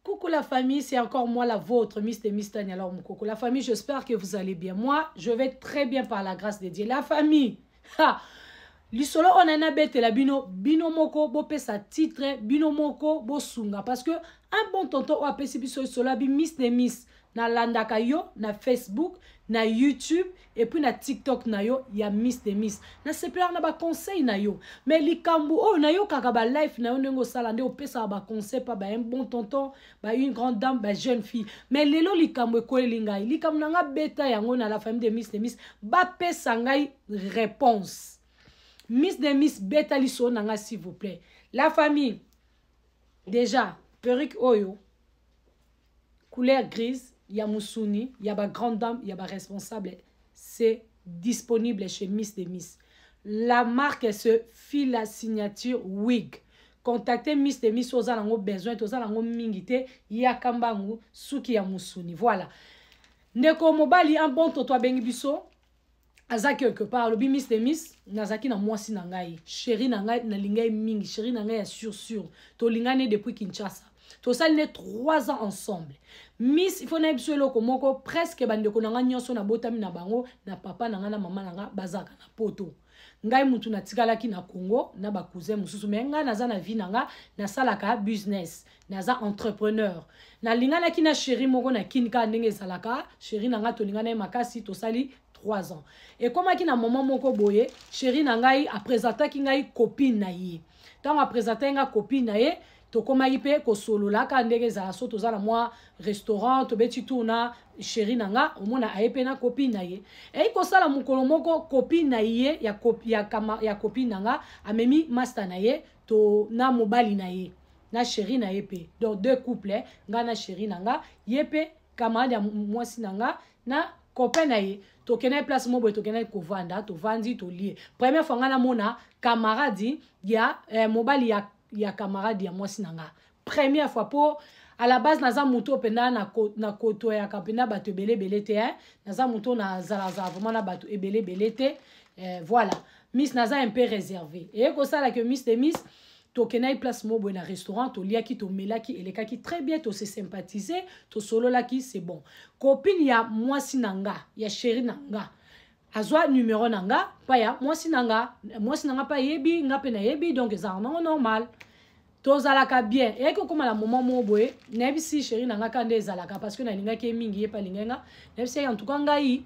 Coucou la famille, c'est encore moi la vôtre, Miss de Miss Tania alors Mukoko. La famille, j'espère que vous allez bien. Moi, je vais très bien par la grâce de Dieu. La famille, ha, lisolo on en a bête la bino, bino moko, bo sa titre, bino moko, bo sunga. Parce que un bon tonton ou apesi biso lisolo, bi Miss de Miss. nalandaka yo na facebook na youtube epuis na tiktok na yo ya miss de miss nasepelaka na baconseil na yo mai likambo oyo nayokaka balife na yo ndenge osala nde opesaka baconseil pa ba un bon tonton ba une grande dame ba jeune fille mai lelo likambo ekweli ngai likambo na ngai beta yango na la famille de miss de miss bapesa ngai réponse miss de miss beta lisolo na ngai s'il vous plaît la famille déjà perruque oyo couleur grise ya musuni ya ba grande dame ya ba responsable c'est disponible chez miss de miss la marque se file la signature wig contacte miss de miss oza nango besoin toza nango mingi te yaka mbangu suki ya musuni voilà ndeko mobali un bon toto abengi biso aza quelque part alobi miss de miss nazalaki na mwasi na ngai sheri na ngai nalinga ye mingi sheri na ngai ya sur sur tolingani ye depuis kinshasa tosali nde 3 ans ensemble miss ifo nayebi biso eloko moko presque bandeko na ngai nyonso nabotami na bango na papa na ngai na mama na ngai bazalaka na poto ngai mutu natikalaki na congo na bacousin mosusu mai ngai naza na vie na ngai nasalaka business naza entrepreneur nalinganaki na sheri moko na kini kaka ndenge ezalaka sheri na ngai tolingana ye makasi tosali 3 ans ekomaki na moment moko boye sheri na ngai apresentaki ngai copine na ye ntango apresentaki ngai copine na ye tokomaki mpe kosolola kaka ndenge ezala so toza na mwa restaurant tobeti tour na sheri na nga omona aye mpe na copine na ye eyi kosala mokolo moko copine na ye ya, ya, ya copine na nga amemi masta na ye to na mobali na ye na chéri na ye mpe donc deux couple eh? ngai na chéri na nga ye mpe camarade ya mwasi na nga na copain na ye tokendaki place moko boye tokendaki kovanda tovandi tolie première fois ngai namona camarade ya eh, mobali ya, ya camarade ya mwasi na nga première fois mpo à la base naza moto mpenza na kotoyaka mpenza bato ebele ebele te eh? naza moto nazalazala vraiment na bato ebele ebele te eh, voilà miss naza un peu réservé eye kosala ke miss de miss tokendaki place moko boye na restaurant toliaki tomelaki elekaki très bien tose sympathise tosololaki c'est bon copine ya mwasi na nga ya sheri na nga azwa numero na nga mpa ya mwasi na nga mwasi na nga mpe ayebi nga mpe nayebi donc ezalaka nango normal tozalaka bien eyaki kokóma na moment moko boye nayebisi sheri na nga ka nde ezalaka parce que nalingaki ye mingi ye mpe alingaki nga nayebisi yaki en tout cas ngai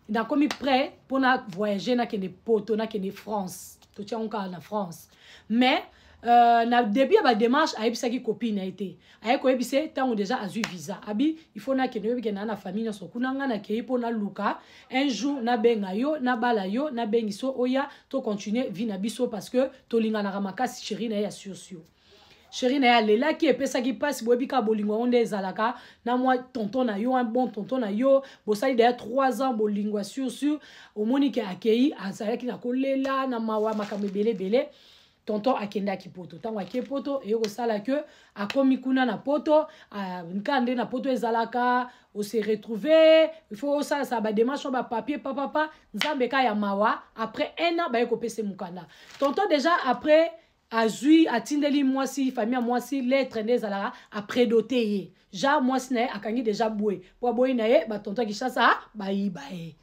nakomi prêt mpo na voyage nakende poto nakende france totiango kaka na france mais Euh, na début ya badémarche ayebisaki copine na ye te aye koyebisa ye ntango déjà azwi visa abi il faut nakende oyebi kenda na famille nyonso kuna ngai nakei mpo naluka un jour nabenga yo nabala yo nabengi so oya tocontinue vie na biso parce que tolinganaka makasi chéri na ye ya sursur sheri na ye alelaki epesaki mpasi boyebi kaka bolingo yango nde ezalaka na mwa tonton na yo un bon tonton na yo bosali deya 3 ans bolingo ya sur sur omoni ke akei azalaki na kolela na mawa makambo ebele ebele tonton akendaki poto ntango ake poto eye kosala ke akomi kuna na poto nka nde na poto ezalaka ose retrouve ifaut osalasaka bademarshe oyo bapapier papapa nzambe ka ya mawa après un an baye kopesa mokanda tonton deja après azwi atindeli mwasi famille ya mwasi lettre nde ezalaka apredote ye ja mwasi na ye akangi deja bwe mpo aboyi na ye batonto ya kinshasa bayiba ye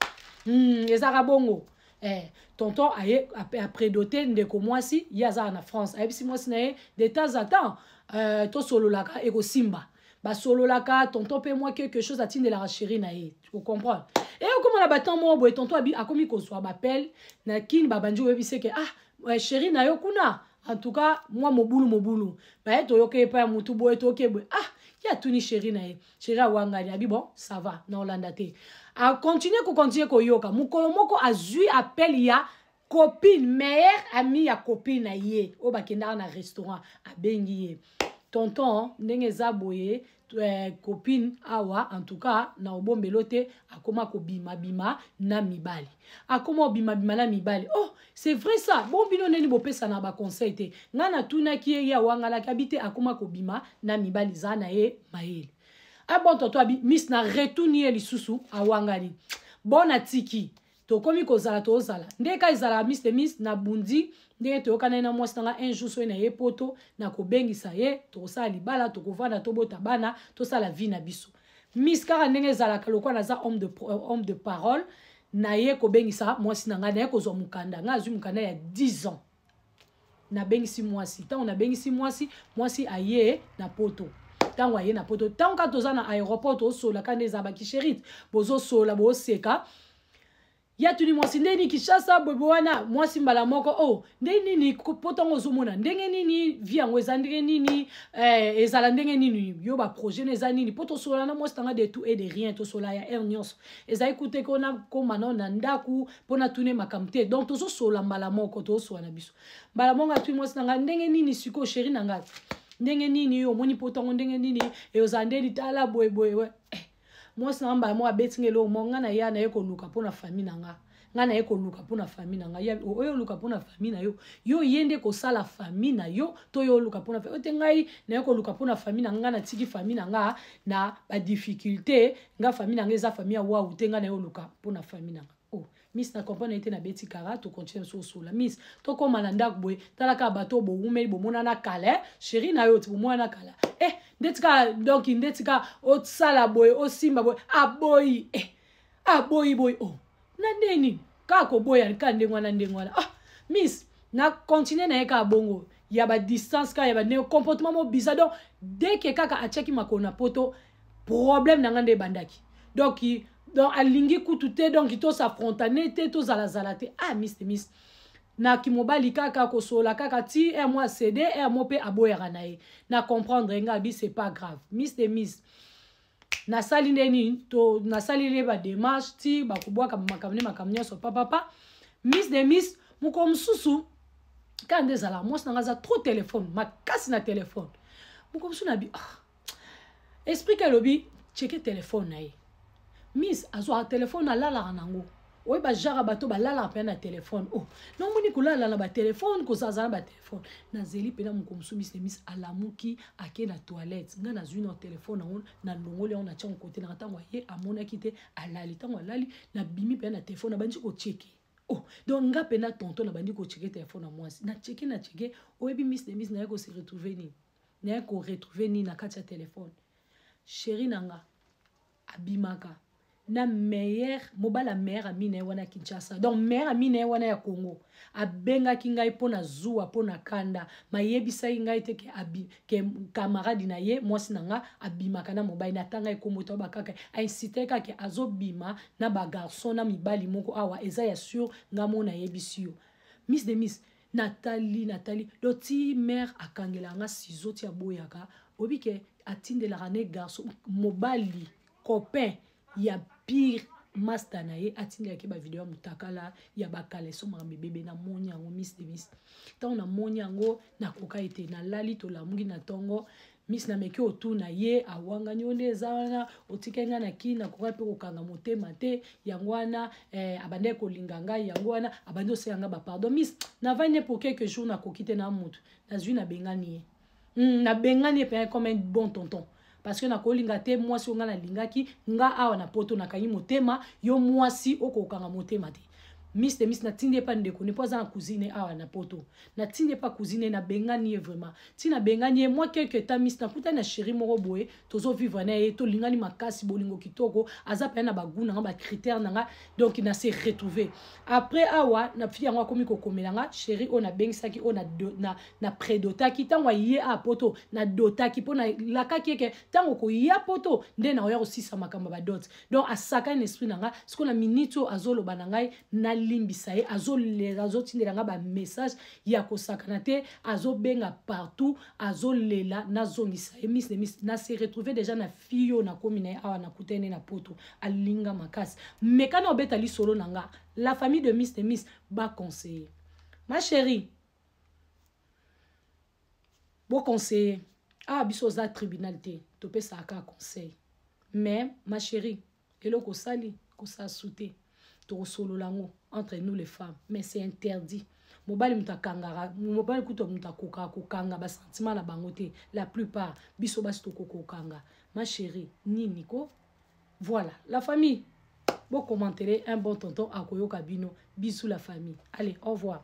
mm, ezalaka bongo eh, tonton aye apredote ndeko mwasi ye azalaka na france ayebisi mwasi na ye de temps à temps euh, tosololaka ekosimba basololaka tonton mpe mwa quelque chose atindelaka chéri na ye ocomprendre e okoma na batemp moko boye tonton abi akomi kozwa bapele na kini babandi oyebise ke ah eh, chéri na yo kuna en tout cas mwa mobulu mobulu baye toyoka epai ya motu boye toyoki eboye ah ye atuni chéri na ye chéri awangani abi bon ça va na olanda te akontinue kokontinue koyoka mokolo moko azwi appel ya copine meilleur ami ya copine na ye oyo bakendaka na restaurant abengi ye tonton ndenge eza boye eh, copine awa en tout cas na obombelo te akoma kobimabima na mibali akoma kobimabima na mibali oh c'est vrai ça bon bino ndeni bopesana baconseil te ngai natunaki ye ye awangalaki abi te akoma kobima na mibali eza na ye mayele abon ah, tonton abi miss na retuni ye lisusu awangani bon natiki tokomi kozala tozala nde ka ezalaka mis de mis na bundi ndenge toyokana ye na mwasi na ngai un jour soki na ye poto nakobengisa ye tokosala libala tokovanda tobota bana tosala vie na biso mis kaka ndenge ezalaka lokola naza homme de, euh, homme de parole naye kobengisa mwasi na ngai naye kozwa mokanda ngai azwi mokanda ya 10 ans nabengisi mwasi ntango nabengisi mwasi mwasi aye na poto ntango aye na poto ntango kaka toza na aéroport tozosola kaka nde eza bakisherite bozosola boseka ya tuni mwasi ndenge nini kinshasa boyebo wana mwasi mbala moko o oh, ndenge nini po ntango ozomona ndenge nini vi yango eza ndenge nini eh, ezala ndenge nini yo baprojet na eza nini mpo tosola na mwasi tanga de tout et de rien tosola ya heure nyonso ezali kuteke ona koma nao na ndako mpo natuna ye makambo te donc tozosolola mbala moko tozosolola na biso mbala moko atuni mwasi na ngai ndenge nini sikoyo sheri na ngai ndenge nini omoni mpo ntango ndenge nini eozala nde litala boyeboye eh, mwasi na ngai mbala moko abeti ngai eloko moko ngai na ya na ye koluka mpo na fami na ngai ngai naye koluka mpona fami na ngai oyo oluka mpona fami na yo yo oye nde kosala fami na yo to yo oluka mpona fami oyo te ngai naye koluka mpona fami na ngai natiki fami na ngai na badifficulté nga famille nanga eza famille ya wawu te nga na yo luka mpo na famille nanga oh miss na comprendre ete na beti kara tokontinue biso osola miss tokóma na ndako boye tala kaka bato oyo bowumeli bomonana kala eh? sheri na yo ti bomonana kala eh ndeti kaka donc ndeti kaka osala boye osimba boye aboyi eh aboyi boye oh na ndenge nini kaka koboya kaka ndenge wana ndenge wana ah miss na continue na ye kaka bongo ya badistance kaka ya bandenge comportement mo biza donc dès ke kaka atiaki makolo na poto problème na ngai nde ebandaki donc donc alingi kutu te donc tosafrontane te tozalazala te ah miss miss na kimobali kaka kosola kaka ti r mo acede r mo mpe aboyaka na ye na comprendre ngai abi c'est pas grave miss de miss nasali nde nini to nasali nde bademarche ti bakobwaka makambo nde makambo nyonso papapa miss de miss mokolo mosusu kaka nde ezala mwasi na ngai aza trop telefone makasi na telefone mokolo mosusu nabi ah. esprit ke alobi cheke telefone na ye miss azwaka telefone alalaka nango oye bajaka bato balalaka mpena na telefone o oh, namoni kolala na batelefone kozazala na batelefone nazeli mpena moko mosusu misi na misi alamuki ake na toilette ngai nazwi na telefone yango nalongoli yango natya mokote nanga ntango aye amonaki te alali ntango alali nabimi mpena na telefone nabandi kocheke o oh, donc ngai mpena tonto nabandi kocheke telefone ya mwasi nacheke nacheke oyebi misi na misi naye kose retrouve nini naye koretrouve nini na kati ya telefone sheri na nga abimaka na meilleur mobala meilleur ami na ye wana kinshasa donc meilleur ami na ye wana ya congo abengaki ngai mpo na zuwa mpo na kanda mayebisaki ngai te ke, abi, ke kamaradi na ye mwasi na nga abimaka na mobali natanga ekombo to bakaka ainsite kake azobima na bagarçon na mibali moko awa eza ya sur nga mo nayebisi yo miss de miss natali natali do ti mare akangelaka nga sizo ti aboyaka oyebi ke atindelaka ne garçon mobali copain ya pire masta na ye atindaki bavideo ya motakala ya bakaleso makambo ebebe namoni yango mis de mis ntango namoni yango nakoka ete nalali tolamuki na ntongo miss na meki otuna ye awangani yo nde eza wana otikaki ngai na kini nakokai mpe kokanga motema te yango wana eh, abandaki kolinga ngai yango wana abandi oseka ngai bapardon miss navandi ne pour quelque jour nakoki te na motu nazwi nabengani ye mm, nabengani ye mpenza comme un bon tonton parce que nakolinga te mwasi oyo ngai nalingaki nga awa na poto nakangi motema yo mwasi okokanga motema te miss de miss natindi epa ndeko ne mpo aza na cousine awa na poto natindi epa cousine nabengani ye vraiment ti nabengani ye mwa quelque temps miss nakutani na chéri moko boye tozovivre na ye tolingani makasi bolingo kitoko aza mpenza na bagout na nga bacritère na nga donc na se retrouve après awa na fille yango akomi kokomela nga chéri oyo nabengisaki oyo na, na predotaki ntango aye a poto nadotaki mpo nalakaki eke ntango koya poto nde nakoya kosisa makambo ya badote donc asakani na esprit na ngai sikoyo na miniti oyo azoloba na ngai nalimbisa ye azolela azotindela ngai bamessage ya kosakana te azobenga partout azolela nazongisa ye mis de mis na se retrouve déjà na fille oyo nakomi na ye awa nakutani na poto alinga makasi mekana obeta lisolo na ngai la famille de mis de mis baconseille ma chérie boconseille awa ah, biso oza tribunal te topesaka kaka conseil mais ma chérie eloko osali kosala sute tokosolola yango entre nous les femmes mais c'est interdit mobali moto akangaka mobali kutu moto akokaka kokanga basentima na bango te la plupart biso basi tokoki kokanga ma chérie nini ko voilà la famille bokomantele un bon tonton akoyoka bino bisous la famille allez au revoir